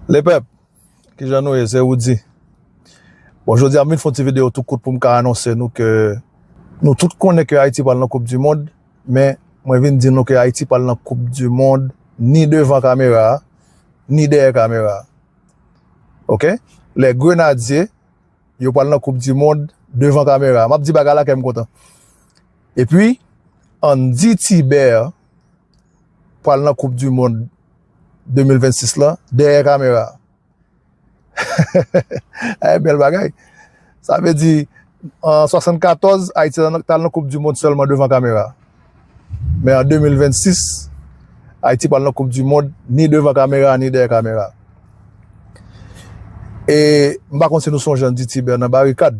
Le pèp, ki jan nou ye, se Roudy. Bon, jodi a m vin fon ti video tou kout pou m ka anonse nou ke nou tout konnen ke Ayiti pral nan koup di mond, men mwen vin di nou ke Ayiti pral nan koup di mond ni devan kamera a, ni dèyè kamera a. Ok? Le grenadye, yo pral nan koup di mond devan kamera a. M ap di bagay la kè m kontan. E pi, Andy Thibert pral nan koup di mond. 2026 lan dèyè kamera a. Bèl bagay. Sa vle di, an 74, Ayiti t al nan koup di mond sèlman devan kamera. Men an 2026, Ayiti pral nan koup di mond ni devan kamera ni dèyè kamera. E m pa konn si nou sonje Andy Thibert nan Barikad.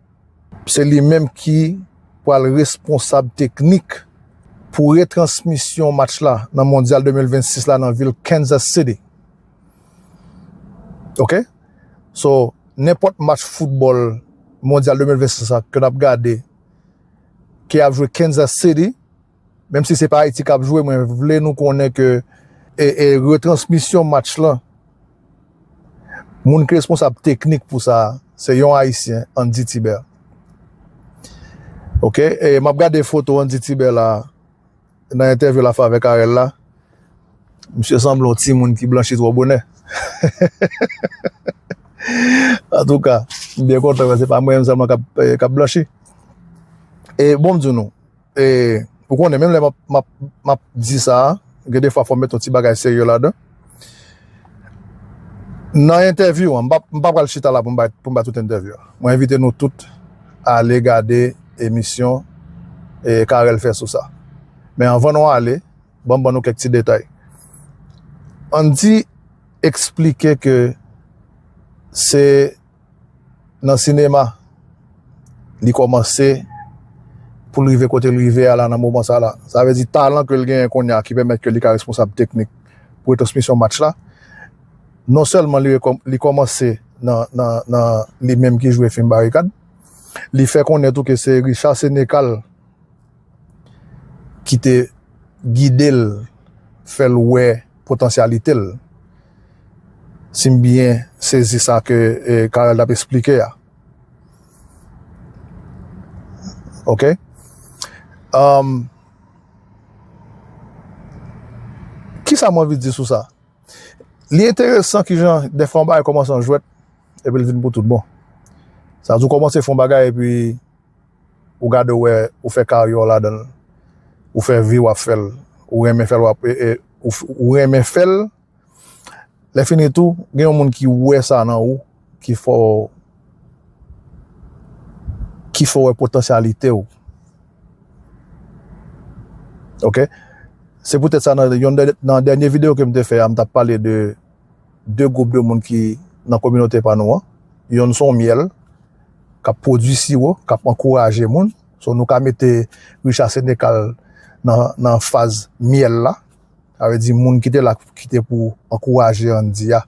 Se li menm ki pral responsab teknik pou retransmisyon match la nan Mondyal 2026 la nan vil Kansas City. Ok? So, nenpòt match foutbòl Mondyal 2026 la ke n ap gade ki ap jwe Kansas City, Menm si se pa Ayiti k ap jwe, mwen vle nou konnen ke e retransmisyon match lan, moun ki responsab teknik pou sa a, se yon Ayisyen, Andy Thibert. Ok, e m ap gade foto Andy Thibert la a, nan entèvyou l ap fè avèk Arel la, misye sanble yon timoun ki blanchi twò bonè. Antouka, m byen kontan wè se pa mwen menm sèlman k ap blanchi. E bon m di nou, E ou konnen menm lè m ap m ap di sa, gen defwa fò m met yon ti bagay serye ladan. Nan entèvyou an, m pa m pa pral chita la pou m bay pou m bay tout entèvyou an. Mwen envite nou tout ale gade emisyon Carel fè sou sa. Men anvan nou ale, ban m ban nou kèk ti detay. Andy eksplike ke se Nan sinema li kòmanse pou l rive kote l rive a la nan moman sa la. Sa vle di talan ke l genyen kounye a ki pèmèt ke li ka responsab teknik pou retransmisyon match la. Non sèlman li kòmanse nan li menm ki jwe fim Barikad, li fè konnen tou ke se Richard Senecal, ki te gide l, fè l wè potansyalite l, si m byen sezi sa ke Carel t ap esplike a. Ok. Kisa m anvi di sou sa? Li enteresan kijan dèfwa yon bagay kòmanse an jwèt epi l vin pou tout bon. Sa vle di ou kòmanse fè yon bagay epi ou gade ou wè ou fè karyè w ladan l, ou fè vi w ap fè l, ou renmen fè l w ap ou renmen fè l, lè fini tou gen yon moun ki wè sa nan ou ki fè w ki fè w wè potansyalite w ok se poutèt sa nan yonn nan dènye videyo ke m te fè a m t ap pale de 2 gwoup de moun ki nan kominote pa nou an. Yonn son myèl k ap pwodui siwo, k ap ankouraje moun. So nou ka mete Richard Sénécal nan faz myèl la. Sa vle di moun ki te la ki te pou ankouraje Andy a.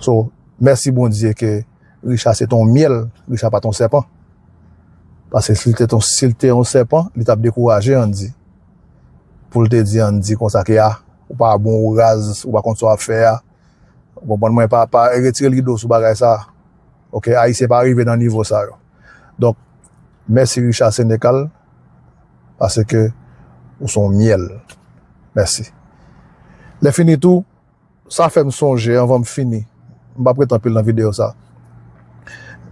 So mèsi Bondye ke Richard se te yon myèl, Richard pa te yon sèpan. Paske si l te yon sèpan, li t ap dekouraje Andy. pou l te di Andy konsa ke a, ou pa bon, ou raz, ou pa konn sa w ap fè a. Ou konprann mwen, pa, pa retire l rido sou bagay sa. Ok, Ayisyen pa rive nan nivo sa yo. Donk, mèsi Richard Sénécal, pase ke ou son myèl. Mèsi. Lè fini tou, Sa fè m sonje, anvan m fini, m pap ret anpil nan videyo sa.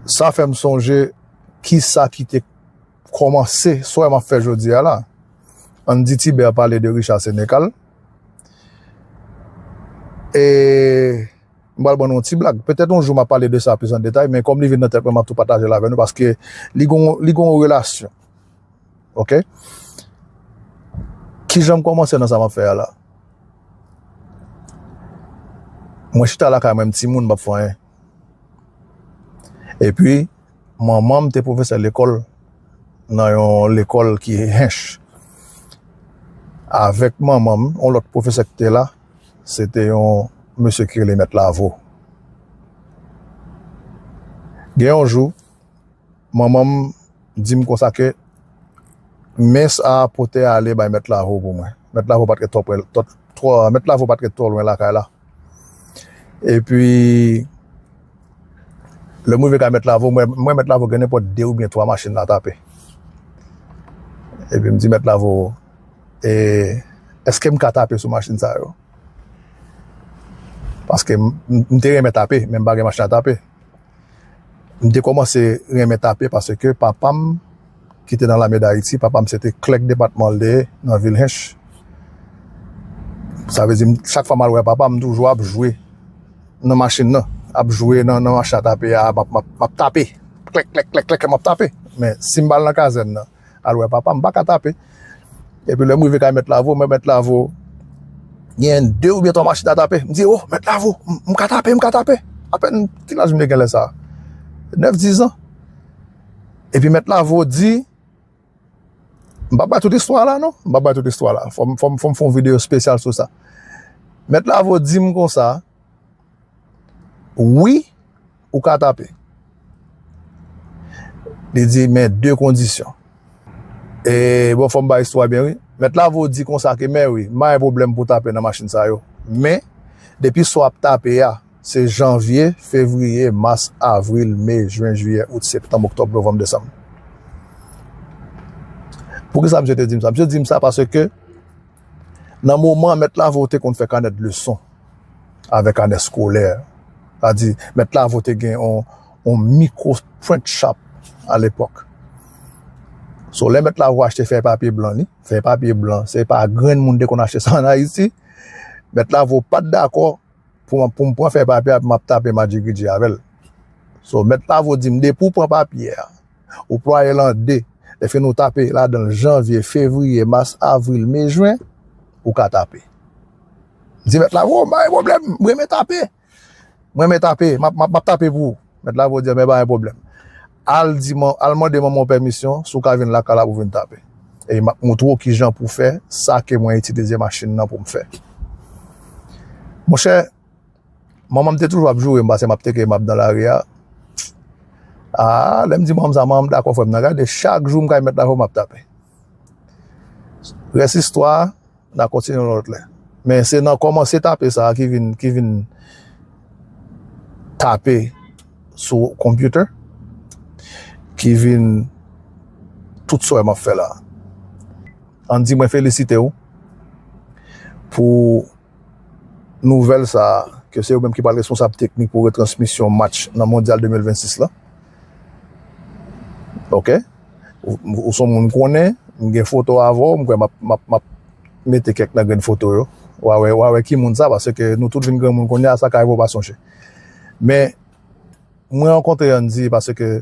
Sa fè m sonje kisa ki te kòmanse swen m ap fè jodi a la. Ann di Tiber pale de Richard Sénécal. E m pral ban nou yon ti blag. Petèt yon jou m ap pale de sa plis an detay, men kòm li vin nan tèt mwen m ap tou pataje l avè nou paske li gen yon relasyon Ok? Ki jan m kòmanse nan sa m ap fè a la? Mwen chita lakay mwen m ti moun m pap fè anyen. E pi, manman m te pwofesè lekòl nan yon lekòl ki hench. Avèk manman m, yon lòt pwofesè ki te la, se te yon mesye ki rele mèt Lavo. Gen yon jou, Manman m di m konsa ke men sa a pote ale bay Mèt Lavo pou mwen. Mèt Lavo pa t ret twò pre, twò, Mèt Lavo pa t ret twò lwen lakay la. Epi, lè m rive kay Mèt Lavo, mwen, mwen Mèt Lavo gen nenpòt de oubyen twa machin la tape. Epi m di Mèt Lavo, e, èske m ka tape sou machin sa yo? Paske m, m te renmen tape, men m pa gen machin a tape. M te kòmanse renmen tape paske papa m ki te nan lame dayiti, papa m se te klèk depatman l te ye nan vil Hinche. Sa vle di chak fwa m al wè papa m toujou ap jwe nan machin nan, ap jwe nan machin a tape a, m ap tape, klèk klèk klèk klèk m ap tape. Men si m pa al nan kazèn nan, al wè papa m pa ka tape epi lè m rive kay mèt lavo m wè mèt lavo gen 2 oubyen 3 machin a tape m di o mèt lavo m ka tape m ka tape apèn ki laj m te gen lè sa 9 10 an epi mèt lavo di m pa bay tout istwa la non m pa bay tout istwa la fò m fò m fon videyo spesyal sou sa mèt lavo di m konsa Wi, ou ka tape. Li di men de kondisyon. E bon fòm ba istwa byen wi. Mèt lavo di konsa ke men wi, ma yon pwoblèm pou tape nan machin sa yo. Men, depi swa ap tape a, se janvye, fevriye, mas, avril, me, jwen, jiyè, out, septanm, oktòb, novanm, desanm. Poukisa msye te di m sa? Msye di m sa paske. Nan moman an, mèt lavo te konn fè kanèt leson avèk kanèt skolè. Sa di, mèt lavo te gen yon mikwo print shop a lepòk. So, lè mèt lavo achte fèy papye blan li, fèy papye blan, se pa grenn moun te konn achte sa an Ayiti, mèt lavo pa t dakò pou m pran fèy papye a epi m ap tape madjigridji avè l. So, mèt lavo di m, depi ou pran papye a, Ou plwaye l an de. Lèfini ou tape ladan l janvye, fevriye, mas, avril, me, jwen, ou ka tape. M di mèt lavo, m pa gen pwoblèm, m renmen tape. M renmen tape, m ap tape pou ou. Mèt lavo di, anben pa gen pwoblèm. Al mande manman w pèmisyon si w ka vin lakay la pou w vin tape. Epi m ap montre w kijan pou w fè sa ke mwen itilize machin nan pou m fè. Monchè! Manman m te toujou ap joure m pase m ap teke m ap nan lari a. Aa, lè m di manman m sa, manman m dakò frè m nan. Gade, chak jou m kay mèt la fò m ap tape. Rès istwa a, n a kontinye yon lòt lè. Men se nan kòmanse tape sa a ki vin, ki vin tape sou konpyoutè, ki vin tout sa w wè m ap fè la a. An di mwen felisite w pou. nouvèl sa a ke se yo menm ki pral responsab teknik pou retransmisyon match nan Mondyal 2026 la. Ok. Ou son moun m konnen, m gen foto avè w, m kwè m ap mete kèk nan grenn foto yo. Wa wè, wa wè ki moun sa paske nou tout vin granmoun kounye a sa ka rive w pa sonje. Men mwen rankontre Andy paske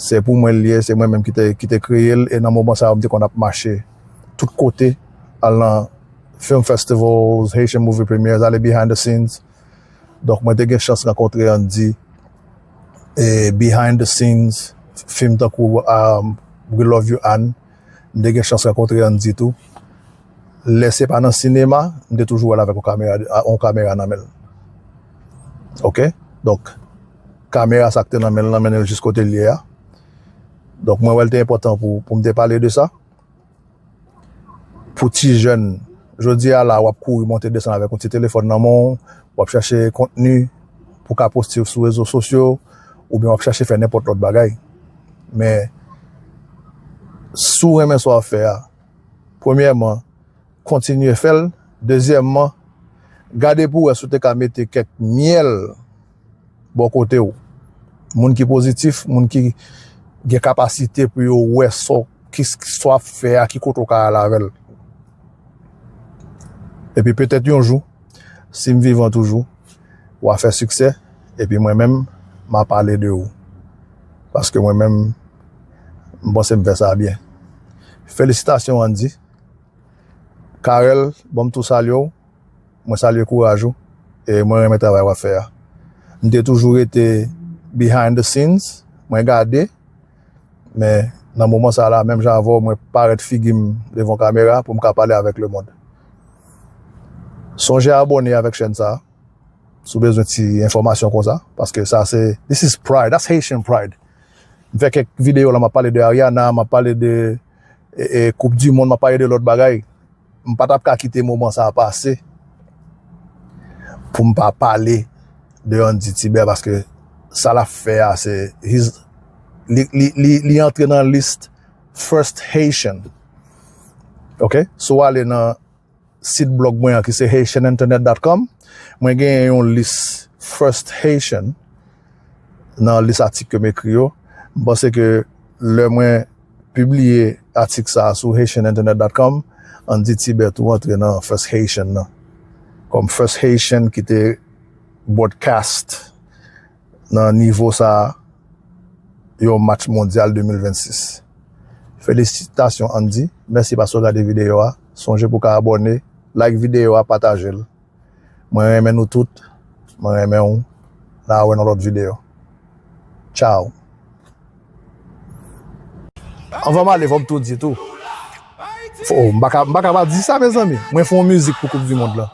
Se pou mwen l ye, se mwen menm ki te kreye l e nan moman sa yo m te konn ap mache tout kote al nan film festivals, Haitian movie premières, ale behind the scenes. Donk mwen te gen chans rankontre Andy e behind the scenes film tankou um, We Love You Anne, m te gen chans rankontre Andy tou. Lè se pa nan sinema, m te toujou wè l avèk yon kamera nan men l. Ok, donk. kamera sa k te nan men l lan mennen l jis kote l ye a. Donk mwen wè l te enpòtan pou pou m te pale de sa. Pou ti jèn, jodi a la w ap kouri monte desann avèk yon ti telefòn nan men w, w ap chache kontni pou w ka poste sou rezo sosyo oubyen w ap chache fè nenpòt lòt bagay. Men, si w renmen sa w ap fè a, premyèman, kontinye fè l. Dezyèmman, gade pou w wè si w te ka mete kèk myèl. bò kote ou. Moun ki pozitif, moun ki gen kapasite pou yo wè so, ki so ap fè a, ki kote ou ka al avèl. Epi petèt yon jou, si m vivan toujou, ou a fè siksè, epi mwen menm, m a pale de ou. Paske mwen menm, m panse m fè sa byen. Felisitasyon Andy. Carel, bon m tou salye ou. Mwen salye kouraj ou e mwen renmen travay wap fè a. M te toujou rete behind the scenes, mwen gade men nan moman sa la menm jan avè w mwen parèt figi m devan kamera pou m ka pale avèk lemond. Sonje abone avèk chèn sa si w bezwen ti enfòmasyon konsa paske sa se this is pride, that's Haitian pride. M fè kèk videyo la map pale de Ariana, map pale de koup di mond, map pale de lòt bagay. M pa t ap ka kite moman sa a pase pou m pa pale de Andy Tibè paske sa l ap fè a se li antre nan lis first Haitian ok si w ale nan sit blog mwen an ki se haitianinternet dot com mwen genyen yon lis first Haitian nan lis atik ke m ekri yo. M panse ke lè mwen pibliye atik sa a sou HaitianInternet.com, ann di Tibè tou antre nan First Haitian nan, kòm First Haitian ki te broadcast nan nivo sa a yon match mondyal 2026. Felisitasyon Andy, mèsi paske w gade videyo a. Sonje pou w ka abòne, like videyo a, pataje l. Mwen renmen nou tout mwen renmen w na wè nan lòt video ciao. Anvan m ale fòm tou di tou oh m paka m paka pa di sa mezanmi mwen fè yon mizik pou koup di mond lan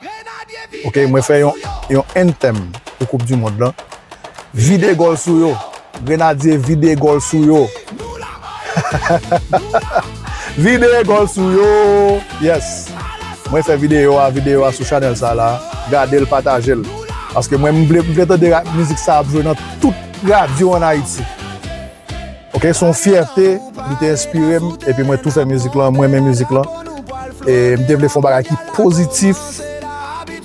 ok mwen fè yon yon anthem pou koup di mond lan vide gòl sou yo. Grenadye vide gòl sou yo Vide gòl sou yo Yes Mwen fè videyo a Videyo a sou chanèl sa la Gade l pataje l Paske mwen m vle m vle tande mizik sa ap jwe nan tout radyo an Ayiti Ok s on fyète Li te enspire m epi mwen tou fè mizik lan Mwen renmen mizik lan E m te vle fè yon bagay ki pozitif.